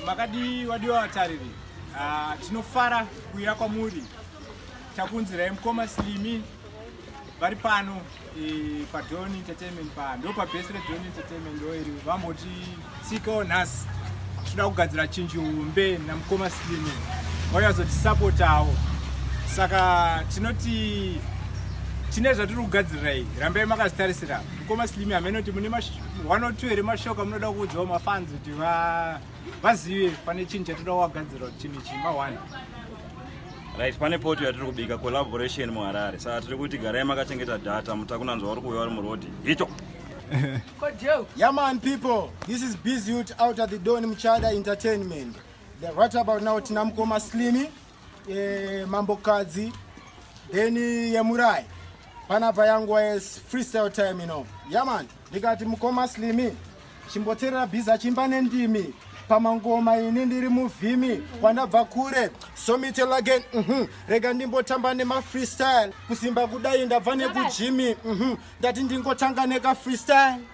makadii wadiwa vatariri ah, tinofara kuuya kwamuri takunzirai mukoma slimi vari pano eh, padon entertainment pa ndo pabest redon entertainment ndoiri vambotitsiikawo nhasi tinoda kugadzira chinji hombe namukoma slimi vauya kuzotisapotawo saka tinoti tine zvatiri kugadzirirai rambai makazitarisira mukoma slimi hameno kuti mune one or two here mashoko amunoda kuudzwa mafanzi kuti vazive pane chinhu chatoda kuvagadzira kuti chinhu chii maone right pane poto yatiri kubika collaboration muharare saka tiri kuti garai makachengeta data mutakunanzwa uri kuuya uri murodi hito yaman people this is busy out at the don muchada entertainment right about now tina mukoma slimy yemambokadzi then yemurai panapa yanguva yes freestyle time you know yaman ndikati mukoma slimi chimboterera bhiza chimba nendimi pamangoma ini ndiri muvhimi kwandabva kure somitel again mm -hmm. rega ndimbotamba nemafreestyle kusimba kudai ndabva nekujimi mm -hmm. ndati ndingotanga nekafreestyle